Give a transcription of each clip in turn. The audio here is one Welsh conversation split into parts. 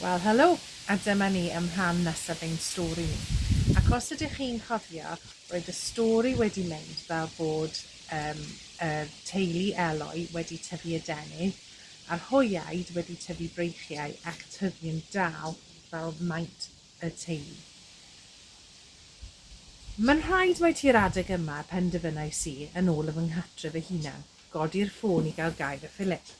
Wel helo, a dyma ni ym rhan nesaf ein stori ni. Ac os ydych chi'n cofio, roedd y stori wedi mynd fel bod yym y teulu Eloi wedi tyfu adenydd, a'r hoeaid wedi tyfu breichiau ac tyfu yn dal fel maint y teulu. Mae'n rhaid mai tua'r adeg yma y penderfynais i, yn ôl y fy nghartre fy hunan, godi'r ffôn i gael gair â Philip.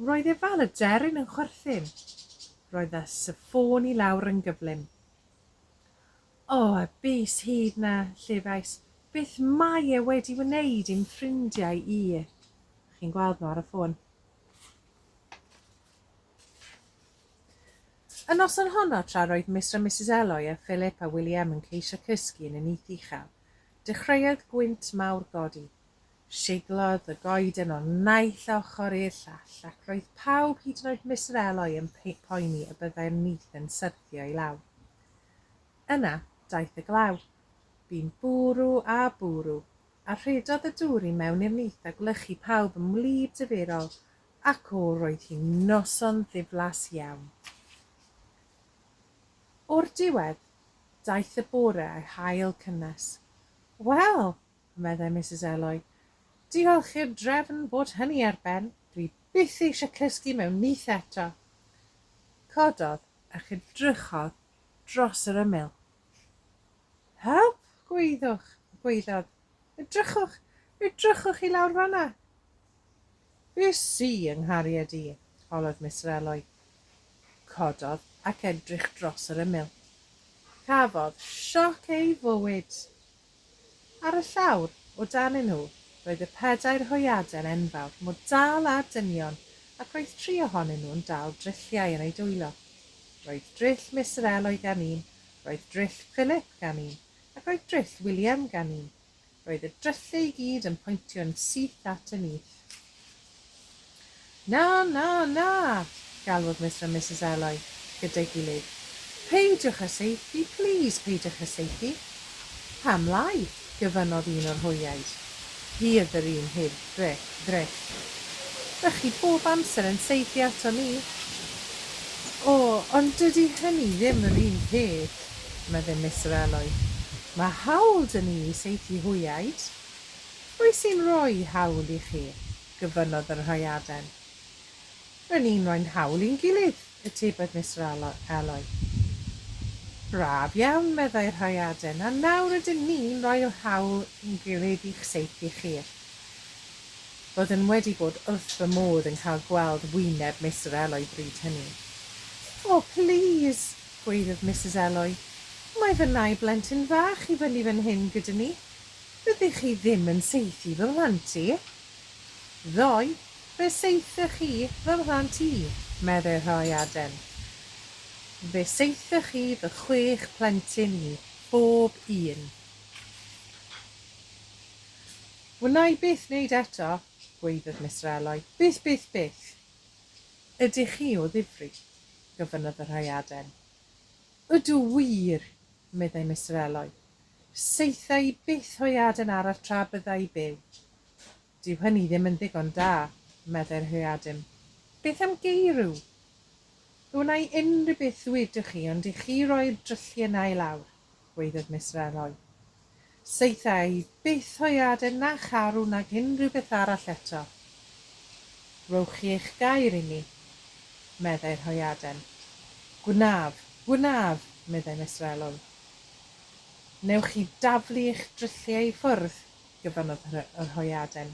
Roedd e fel y deryn yn chwerthin. Roedd y sifôn i lawr yn gyflym. O, y bys hud 'na, llefais. Beth mae e wedi wneud i'm ffrindiau i? Chi'n gweld nhw ar y ffôn. Y noson honno, tra roedd Mister a Misus Eloy a Philip a William yn ceisio cysgu yn y nyth uchel, dechreuodd gwynt mawr godi. Siglodd y goeden o naill ochr i'r llall, ac roedd pawb, hyd yn oed Mister Eloi, yn poeni y byddai'r nyth yn syrthio i lawr. Yna, daeth y glaw. Bu'n bwrw a bwrw, a rhedodd y dŵr i mewn i'r nyth a gwlychu pawb yn wlyb difyrol, ac o, roedd hi'n noson ddiflas iawn. O'r diwedd, daeth y bore a'i hail cynnes. Wel! meddai Misus Eloi. Diolch i'r drefn bod hynny ar ben, dwi byth eisiau cysgu mewn nyth eto. Cododd a chydrychodd dros yr ymyl. Help! gwaeddwch, gwaeddodd. Edrychwch, edrychwch i lawr fan'na! Bys i yng nghariad i, holodd Miss Reloy. Cododd ac edrych dros yr ymyl. Cafodd sioc ei fywyd! Ar y llawr, o danyn nhw, roedd y pedair hwyaden enfawr, mor dal â dynion, ac roedd tri ohonyn nhw'n dal drilliau yn eu dwylo. Roedd drill Miss Reloy gan un, roedd drill Philip gan un, ac roedd drill William gan un. Roedd y dryllu i gyd yn poentio'n syth at y nyth. Na, na, na! galwodd Mister a Misus Eloi gyda'i gilydd. Peidiwch â saethu, plîs, peidiwch â saethu! Pam lai? gyfynnodd un o'r hoeaid. Hi oedd yr un heb ddryll. Dych chi bob amser yn saethu ato ni. O, ond dydy hynny ddim yr un peth! Medde Mister Eloi, Mae hawl 'da ni i saethu hwyaid. Pwy sy'n rhoi hawl i chi? gofynnodd yr hwyaden. Ry' ni'n rhoi'n hawl i'n gilydd, atebodd Mister Eloi. Braf iawn, meddai'r hwyaden, a nawr ydyn ni'n rhoi'r hawl i'n gilydd i'ch saethu chi. Roedden wedi bod wrth fy modd yn cael gweld wyneb Mister Eloi bryd hynny. O, plîs! Gwaeddodd Misus Eloi, Mae fy nau blentyn fach i fyny fan hyn gyda ni. Fyddech chi ddim yn saethu fy mhlant i. Ddoe, fe saethoch chi fy mhlant i, medde Rhai Aden. Fe saethoch chi fy chwech plentyn i, bob un. Wna i byth wneud eto, gwaeddodd Mister Eloi. Byth, byth, byth! Ydych chi o ddifri? gofynnodd y rhaeaden. Ydw wir! meddai Mister Eloi. Saetha i byth hoeaden arall tra bydda i byw. Dyw hynny ddim yn ddigon da, meddai'r hoeaden. Beth am geirw? Wnai unrhyw beth ddwedwch chi ond i chi roi'r drylliau 'na i lawr. gweudded Miss Reloy. Saetha i byth o'i aden na charw nag unrhyw beth arall eto. Rhowch chi eich gair i mi, meddai rhoiaden. Gwnaf, gwnaf, meddai Miss Reloy. Newch chi daflu eich drylliau i ffwrdd, gyfanodd rhoiaden.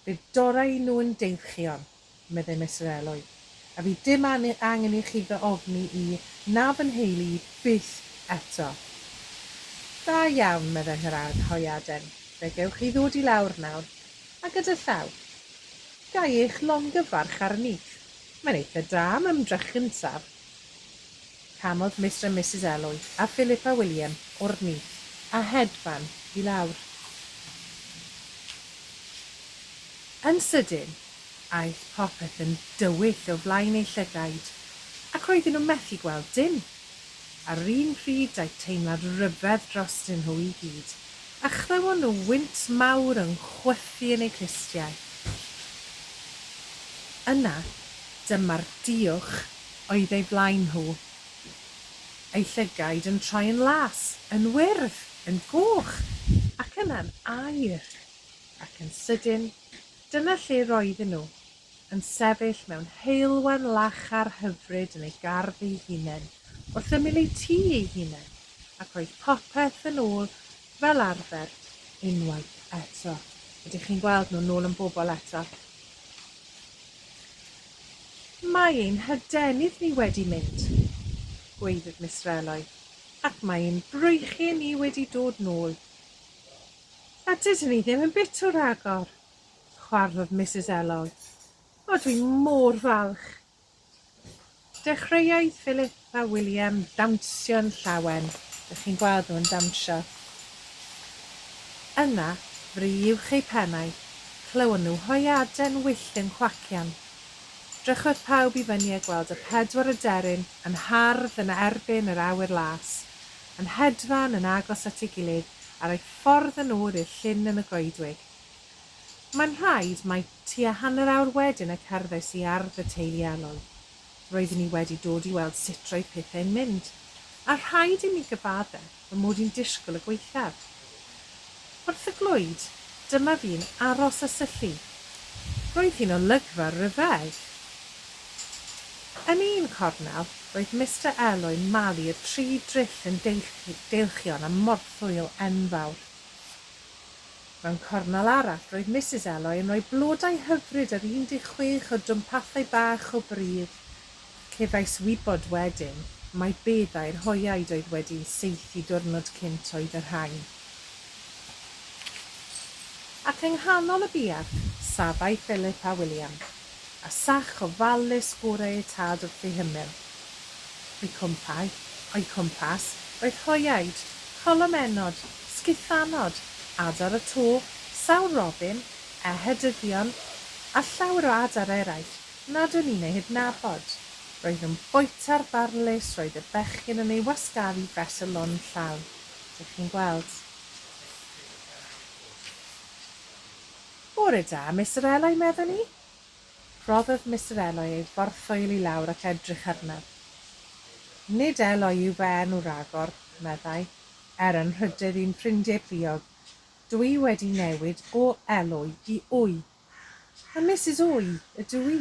Fe dorrai nhw yn deilchion, meddai Mister Eloi, a fydd dim angen i chi fy ofni i, na fy nheulu i byth eto. Da iawn, meddai Nhŷ'r Arhoiaden, fe gewch chi ddod i lawr nawr, a gyda llaw. Ga i eich longyfarch arni? Mae'n eitha da am ymdrech gyntaf. Camodd Mister and Misus Elwy a Philippa William o'r nyth a hedfan i lawr. Yn sydyn, aeth popeth yn dywyll o flaen eu llygaid, ac roedden nhw methu gweld dim. Ar yr un pryd daeth teimlad rhyfedd drostyn nhw i gyd, a chlywon nhw wynt mawr yn chwythu yn eu clustiau. Yna, dyma'r duwch oedd eu blaen nhw, eu llygaid yn troi yn las, yn wyrdd, yn goch, ac yna'n aur. Ac yn sydyn, dyna lle roedden nhw, yn sefyll mewn heulwen lachar hyfryd yn eu gardd eu hunain, wrth ymyl eu tŷ eu hunain, ac roedd popeth yn ôl fel arfer unwaith eto. Ydych chi'n gweld nhw'n ôl yn bobl eto? Mae ein hadenydd ni wedi mynd, gwaeddodd Miss Reloy, ac mae ein breichiau ni wedi dod nôl. A dydyn ni ddim yn bit o ragor, chwarddodd Misus Elog. O, dwi mor falch! Dechreuai Philip Mae William dawnsio'n llawen. Dych chi'n gweld nhw'n dawnsio? Yna, fri uwch eu pennau, clywon nhw hwyaden wyllt yn cwacian. Drychodd pawb i fyny a gweld y pedwar aderyn yn hardd yn erbyn yr awyr las, yn hedfan yn agos at ei gilydd ar eu ffordd yn ôl i'r llyn yn y goedwig. Mae'n rhaid mai tua hanner awr wedyn y cerddais i ardd y teulu elw. Roeddwn i wedi dod i weld sut roedd pethau'n mynd, a rhaid i mi gyfaddef fy mod i'n disgwyl y gwaethaf. Wrth y glwyd, dyma fi'n aros a syllu. Roedd hi'n olygfa rhyfedd! Yn un cornel, roedd Mister Elwyn malu y tri dryll yn deilchion a morthwyl enfawr. Mewn cornel arall, roedd Misus Eloy yn rhoi blodau hyfryd ar 16 o dwmpathau bach o bridd. Cefais wybod wedyn mai beddau'r hoeaid oedd wedi saethu diwrnod cynt oedd y rhain. Ac yng nghanol y buarth, safai Philip a William, a sach ofalus gorau eu tad wrth ei hymyl. O'u cwmpau, o'u cwmpas, oedd hoiaid, colomennod, sgithanod, adar y to, sawl robin, ehedyddion, a llawer o adar eraill nad o'n i'n eu hydnabod. Roedd yn bwyta'r barlys roedd y bechgyn yn ei wasgaru fes y lôn yn llawn. Dych chi'n gweld? Bore da, Mister Eloi, meddwn i? Rhoddodd Mister Eloi ei bortffoil i lawr ac edrych arnaf. Nid Eloi yw fy enw ragor, meddai, er yn rhydedd i'n ffrindiau pluog, dw i wedi newid o Eloi i Oi. A Misus Oi ydw i,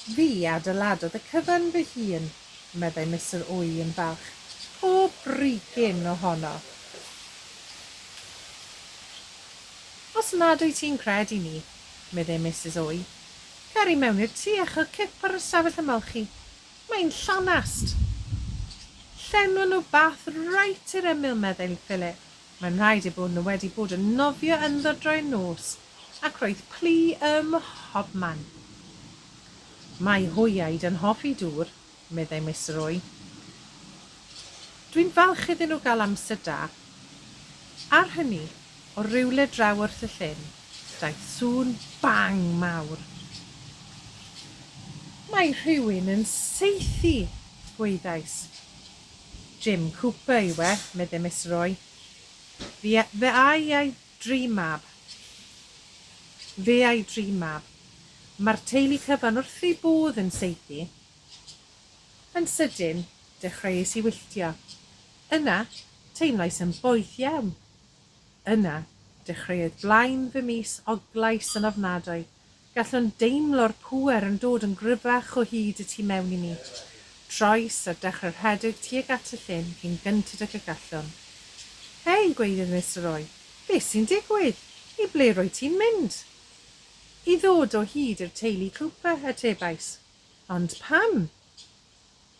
Fi adeiladodd y cyfan fy hun, meddai Mister Ui yn falch, pob brigyn ohono. Os nad wyt ti'n credu mi, meddai Misus Ui, cer i mewn i'r tŷ a chael cip ar y stafell ymolchi. Mae'n llanast. Llenwa nhw bath reit i'r ymyl, meddai Philip. Mae'n rhaid eu bod nhw wedi bod yn nofio ynddo droi'r nos. Ac roedd plu ym mhobman. Mae hwyaid yn hoffi dŵr, meddai Miss Roy. Dwi'n falch iddyn nhw gael amser da. Ar hynny, o rywle draw wrth y llyn, daeth sŵn bang mawr. Mae rhywun yn saethu! gwaeddais. Jim Cooper yw e, meddai Miss Roy. Fe a'i Dream Mab. Fe a'i dream mab. Mae'r teulu cyfan wrth eu bodd yn saethu. Yn sydyn, dechreuais i wylltio. Yna, teimlais yn boeth iawn. Yna, dechreuodd blaen fy mis Oglais yn ofnadwy, Gallwn deimlo'r pŵer yn dod yn gryfach o hyd y tu mewn i mi. Troes a dechrau rhedeg tuag at y llyn cyn gynted ag y gallwn. Hei, gweiddydd Mister Roy, beth sy'n digwydd? I ble rwyt ti'n mynd? I ddod o hyd i'r teulu Cooper, atebais. Ond pam?